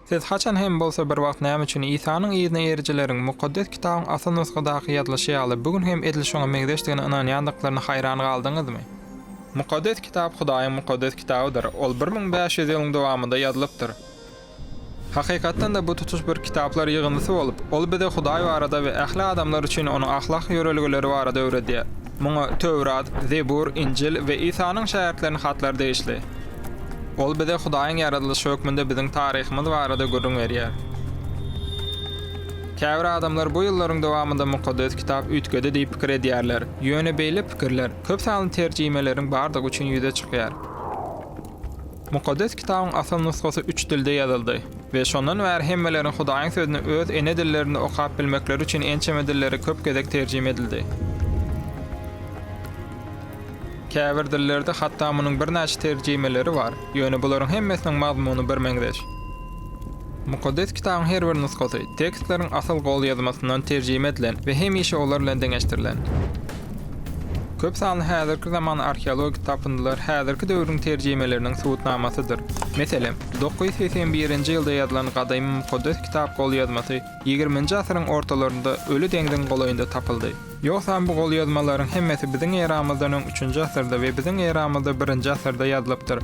Siz haçan hem bolsa bir wagt näme üçin Isanyň yzyna erijileriň Mukaddes Kitabyň asyl nusgadaky ýazylyşy ýaly bu gün hem edil şoňa meňzeşdigine ynanýandyklaryna haýran galdyňyzmy? Mukaddes Kitap Hudaýyň Mukaddes Kitabydyr, ol bir müň bäş ýüz ýylyň dowamynda ýazylypdyr. Hakykatdan-da, bu tutuş bir kitaplar ýygyndysy bolup, ol bize Hudaý barada we ähli adamlar üçin Onuň ahlak ýörelgeleri barada öwredýär. Muňa Töwrat, Zebur, Injil we Isanyň şägirtleriniň hatlary degişli. Ol bize Hudaýyň ýaradylyşy hökmünde biziň taryhymyz barada gürrüň berýär. Käbir adamlar bu ýyllaryň dowamynda Mukaddes Kitap üýtgedi diýip pikir edýärler. Ýöne beýle pikirler köp sanly terjimeleriň bardygy üçin ýüze çykýar. Mukaddes Kitabyň asyl nusgasy üç dilde ýazyldy we şondan bäri hemmeleriň Hudaýyň Sözüni öz ene dillerinde okap bilmekleri üçin ençeme dillere köp gezek terjime edildi. Käbir dillerde hatda munuň birnäçe terjimeleri bar, ýöne bularyň hemmesiniň mazmuny birmeňzeş. Mukaddes Kitabyň her bir nusgasy tekstleriň asyl golýazmasyndan terjime edilen we hemişe olar bilen deňeşdirilen. Köp sanly häzirki zaman arheologik tapyndylar häzirki döwrüň terjimeleriniň subutnamasydyr. Meselem, dokuz ýüz segsen birinji ýylda ýazylan gadymy Mukaddes Kitap golýazmasy ýigriminji asyryň ortalarynda Öli deňziň golaýynda tapyldy. Ýogsam bu golýazmalaryň hemmesi biziň eramyzdan öň üçünji asyrda we biziň eramyzda birinji asyrda ýazylypdyr.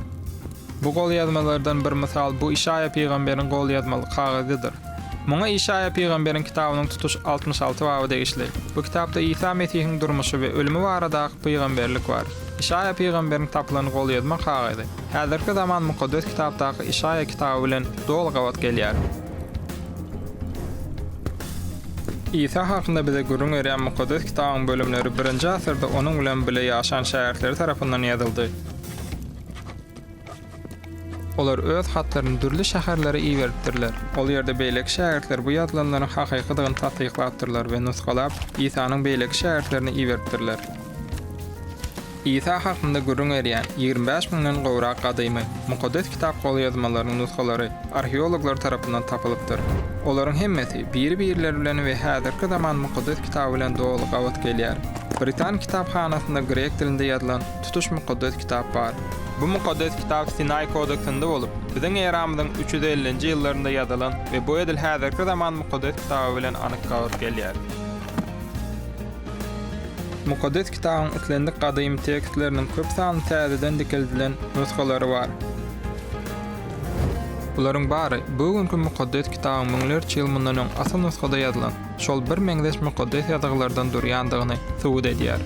Bu golýazmalardan bir mysal bu Işaýa pygamberiň golýazmaly kagyzydyr. Muňa Işaýa pygamberiň kitabynyň tutuş altmyş alty baby degişli. Bu kitapda Isa Mesihiň durmuşy we ölümi baradaky pygamberlik bar. Işaýa pygamberiň tapylan golýazma kagyzy häzirki zaman Mukaddes Kitapdaky Işaýa kitaby bilen doly gabat gelýär. Isa hakynda bize gürrüň berýän Mukaddes Kitabyň bölümleri 1-nji asyrda onuň bilen bile ýaşan şägirtleri tarapyndan ýazyldy. Olar öz hatlaryny dürli şäherlere iberipdirler. Ol ýerde beýleki şägirtler bu ýazylanlaryň hakykydygyny tassyklapdyrlar we nusgalap, Isanyň beýleki şägirtlerine iberipdirler. Isa hakynda gürrüň berýän ýigrimi bäş müňden gowrak gadymy Mukaddes Kitap golýazmalarynyň nusgalary arheologlar tarapyndan tapylypdyr. Olaryň hemmesi biri-birleri bilen we häzirki zaman Mukaddes Kitaby bilen doly gabat gelýär. Britan kitaphanasynda grek dilinde ýazylan tutuş Mukaddes Kitap bar. Bu Mukaddes Kitap Sinaý kodeksinde bolup, biziň eramyzyň üç ýüz ellinji ýyllarynda ýazylan we bu edil häzirki zaman Mukaddes Kitaby bilen anyk gabat gelýär. Mukaddes Kitabyň islendik gadymy tekstleriniň köp sanly täzeden dikeldilen nusgalary bar. Bularyň bary bu günki Mukaddes Kitabyň müňlerçe ýyl mundan öň asyl nusgada ýazylan, şol bir meňzeş mukaddes ýazgylardan durýandygyny subut edýär.